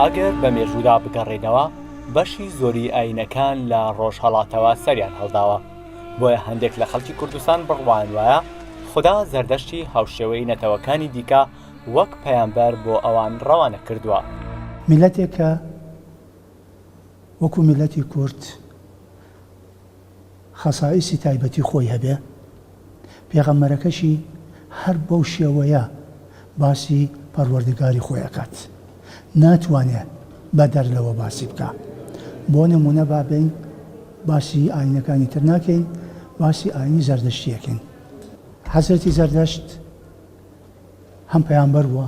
ئەگەر بە مێژوودا بگەڕێینەوە بەشی زۆری ئاینەکان لە ڕۆژهەڵاتەوە سەریان هەڵداوە بۆیە هەندێک لە خەڵکی کوردستان بڕوایان وایە خودا زەردەشتی هاوشێوەی نەتەوەکانی دیکە وەک پەیامبەر بۆ ئەوان ڕەوانە کردووە. میللەتێک کە وەکو میللەتی کورد، خەسائیسی تایبەتی خۆی هەبێ، پێغەمبەرەکەشی هەر بەو شێوەیە باسی پەروەردگاری خۆی ئەکات ناتوانێ بەدەر لەوە باسی بکا بۆ نمونە با بێین باسی ئاینەکانی تر ناکەین باسی ئاینی زەردەشتی ئەکەین حەزرەتی زەردەشت هەم پەیامبەر بووە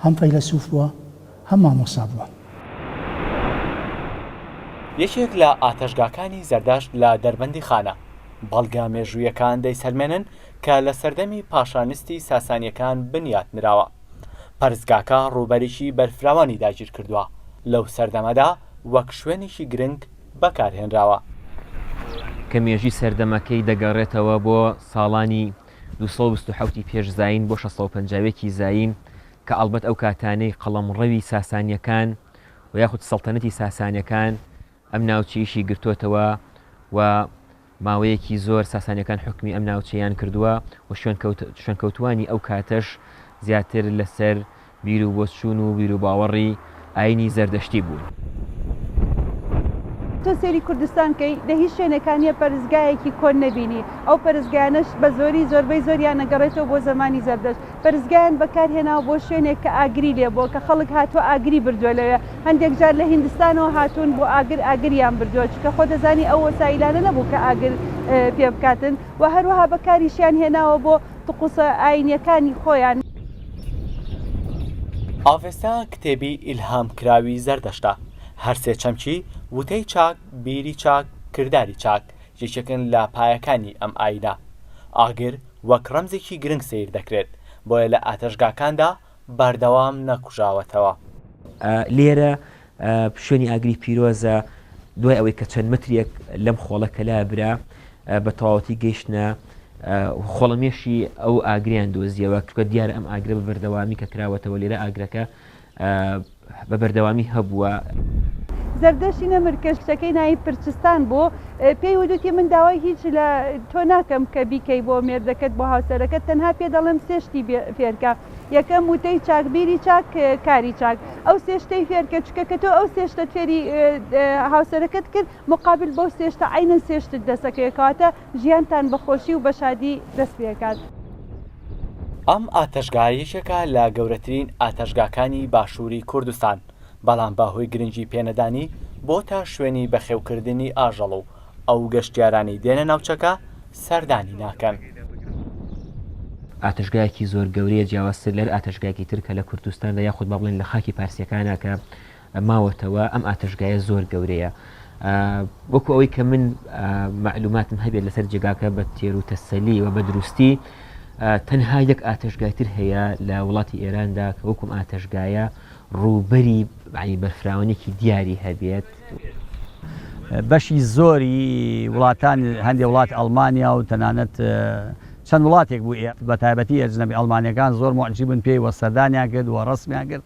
هەم فەیلەسوف بووە هەم مامۆستا بووە. یەکێک لە ئاتەشگاکانی زەردەشت لە دەربەندیخانە، بەڵگە مێژوویەکان دەیسەلمێنن کە لە سەردەمی پاشانستی ساسانیەکان بنیات نراوە. پەرستگاکە ڕووبەرێکی بەرفراوانی داگیرکردووە، لەو سەردەمەدا وەک شوێنێکی گرنگ بەکارهێنراوە. کە مێژووی سەردەمەکەی دەگەڕێتەوە بۆ ساڵانی دوو سەد و بیست و حەوت ی پێش زایین بۆ شەش سەد و پەنجا و یەک ی زایین کە ئەڵبەت ئەو کاتانەی قەڵەمڕەوی ساسانییەکان و یاخود سەڵتەنەتی ساسانییەکان ئەم ناوچەیشی گرتۆتەوە و ماوەیەکی زۆر ساسانییەکان حوکمی ئەم ناوچەیان کردووە و شوێنکەوتووانی ئەو کاتەش زیاتر لەسەر بیروبۆچوون و بیروباوەڕی ئایینی زەردەشتی بوون. تۆ سەیری کوردستان کەی لە هیچ شوێنێکا نیە پەرستگایەکی کۆن نەبینی ئەو پەرستگایانەش بە زۆری زۆربەی زۆریان ئەگەڕێتەوە بۆ زەمانی زەردەشت پەرستگایان بەکار هێناوە بۆ شوێنێک کە ئاگری لێ بووە کە خەڵک هاتووە ئاگری بردووە لەوێ هەندێک جار لە هیندستانەوە هاتوون بۆ ئاگر ئاگریان بردووە چونکە خۆ دەزانی ئەو وەسایلانە نەبوو کە ئاگر پێ بکاتن وە هەروەها بەکاریشیان هێناوە بۆ تقوسە ئاینیەکانی خۆیان. ئاڤێستا کتێبی ئیلهام کراوی زەردەشتە، هەر سێ چەمکی، وتەی چاک، بیری چاک، کرداری چاک، یەکێکن لە پایەکانی ئەم ئاینە. ئاگر وەک ڕەمزێکی گرنگ سەیر دەکرێت، بۆیە لە ئاتەشگاکاندا، بەردەوام نەکوژاوەتەوە. لێرە شوێنی ئاگری پیرۆزە، دوای ئەوەی کە چەند مەترێک لەم خۆڵە کە لابرا بە تەواوەتی گەیشتنە خۆڵەمێشی ئەو ئاگریان دۆزیەوە، چونکە دیارە ئەم ئاگرە بە بەردەوامی کە کراوەتەوە لێرە ئاگرەکە بە بەردەوامی هەبووە. زەردەشتی نەمر کە شتەکەی ناوی پرچستان بوو، پێی وتووتی، من داوای هیچ لە تۆ ناکەم کە بیکەی بۆ مێردەکەت، بۆ هاوسەرەکەت، تەنها پێ دەڵێم سێ شتی فێرکە، یەکەم، وتەی چاک، بیری چاک، کاری چاک. ئەو سێ شتەی فێرکە، چونکە کە تۆ ئەو سێ شتەت فێری هاوسەرەکەت کرد، موقابل بەو سێ شتە عەینەن سێ شتت دەسەکەوێت، کەواتە. ژیانتان بە خۆشی و بە شادی دەست پێکات. ئەم ئاتەشگا یەکێکە لە گەورەترین ئاتەشگاکانی باشووری کوردستان، بەڵام بە هۆی گرنگی پێنەدانی بۆتە شوێنی بەخێوکردنی ئاژەڵ و ئەو گەشتیارانەی دێنە ناوچەکە سەردانی ناکەن. ئاتەشگایەکی زۆر گەورەیە جیاوازتر لەر ئاتەشگایەکی تر کە لە کوردستاندا یاخود با بڵێین لە خاکی پارسیەکانا کە ماوەتەوە ئەم ئاتەشگایە زۆر گەورەیە وەکو ئەوەی کە من معلوماتم هەبێت لەسەر جێگاکە بە تێر و تەسەلی و بە دروستی تەنها یەک ئاتەشگایتر هەیە لە وڵاتی ئێراندا کە وەکم ئاتەشگایە ڕووبەری بەعی بەرفراوانێکی دیاری هەبێت. بەشی زۆری وڵاتان هەندێک وڵات ئەڵمانیا و تەنانەت چەند وڵاتێک بوو بە تایبەتی ئەجنەبی ئەڵمانیەکان زۆر معجیبن پێی وە سەردانیان کرد و ڕسمیان کرد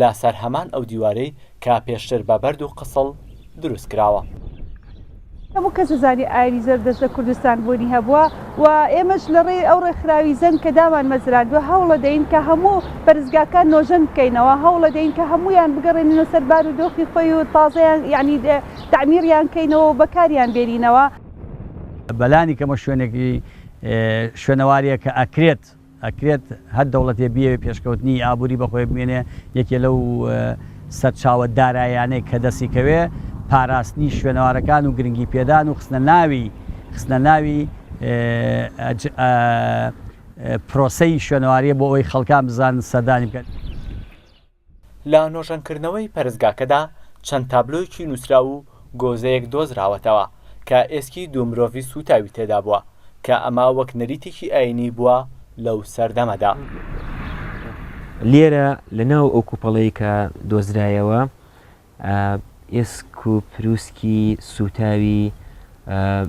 لە سەر هەمان ئەو دیوارەی کە پێشتر بە بەرد و قسڵ دروست کراوە. هەموو کەس دەزانێ ئاینی زەردەشت لە کوردستان بوونی هەبووە و ئێمەش لە ڕێی ئەو ڕێکخراوی زەنگ کە دامانمەزراندووە هەوڵەدەین کە هەموو پەرستگاکان نۆژەن بکەینەوە، هەوڵەدەین کە هەموویان بگەڕێنینەوە سەر بار و دۆخی خۆی و تازەیان یانی تەعمیریان کەینەوە و بەکاریان بێنینەوە. بەلانی کەمە شوێنێکی شوێنەواریە کە ئەکرێت ئەکرێت هەر دەوڵەتێ بیەوێ پێشکەوتنی ئابووری بەخۆێ بمێنێ یەکێ لەو سەرچاوە دارایانەی کە دەستی کەوێ پاراستنی شوێنەوارەکان و گرنگی پێدان و خستنە ناوی خستنە ناوی پرۆسەی شوێنەواریە بۆ ئەوەی خەڵکان بزانن سەردانی بکەن. لە نۆژەنکردنەوەی پەرستگاکەدا چەند تابلۆیەکی نووسراو و گۆزەیەک دۆزراوەتەوە کە ئێسکی دوو مرۆڤی سووتاوی تێدا بووە، کە ئەمە وەک نەریتێکی ئایینی بووە لەو سەردەمەدا. لێرە لە ناو ئەو کوپەڵەی کە دۆزرایەوە ئێسک و پروسکی سووتاوی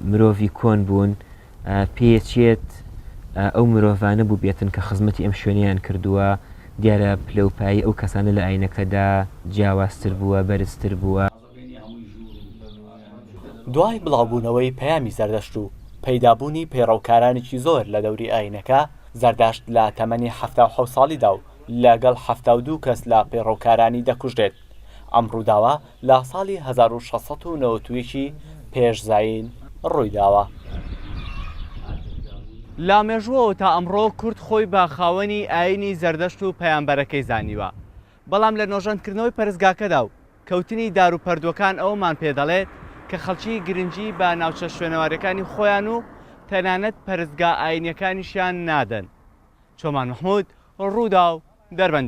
مرۆڤی کۆن بوون، پێیەچێت ئەو مرۆڤانە بووبێتن کە خزمەتی ئەم شوێنەیان کردووە، دیارە پلە و پایەی ئەو کەسانە لە ئاینەکەدا جیاوازتر بووە، بەرزتر بووە. دوای بڵاوبوونەوەی پەیامی زەردەشت و پەیدابوونی پەیڕەوکارانێکی زۆر لە دەوری ئاینەکە، زەردەشت لە تەمەنی حەفتا و حەوت ساڵیدا و لەگەڵ حەفتا و دوو کەس لە پەیڕەوکارانی دەکوژرێت، ئەم ڕووداوە لە ساڵی هەزار و شەش سەد و نەوەد و یەک ی پێش زایین ڕووی داوە. لە مێژووەوە تا ئەمڕۆ کورد خۆی بە خاوەنی ئایینی زەردەشت و پەیامبەرەکەی زانیوە، بەڵام لە نۆژەنکردنەوەی پەرستگاکەدا و کەوتنی دار و پەردووەکان ئەوەمان پێ دەڵێت کە خەڵکی گرنگی بە ناوچە شوێنەواریەکانی خۆیان و تەنانەت پەرستگا ئایینیەکانیشیان نادەن. چۆمان مەحمود، ڕووداو، دەربەندیخان.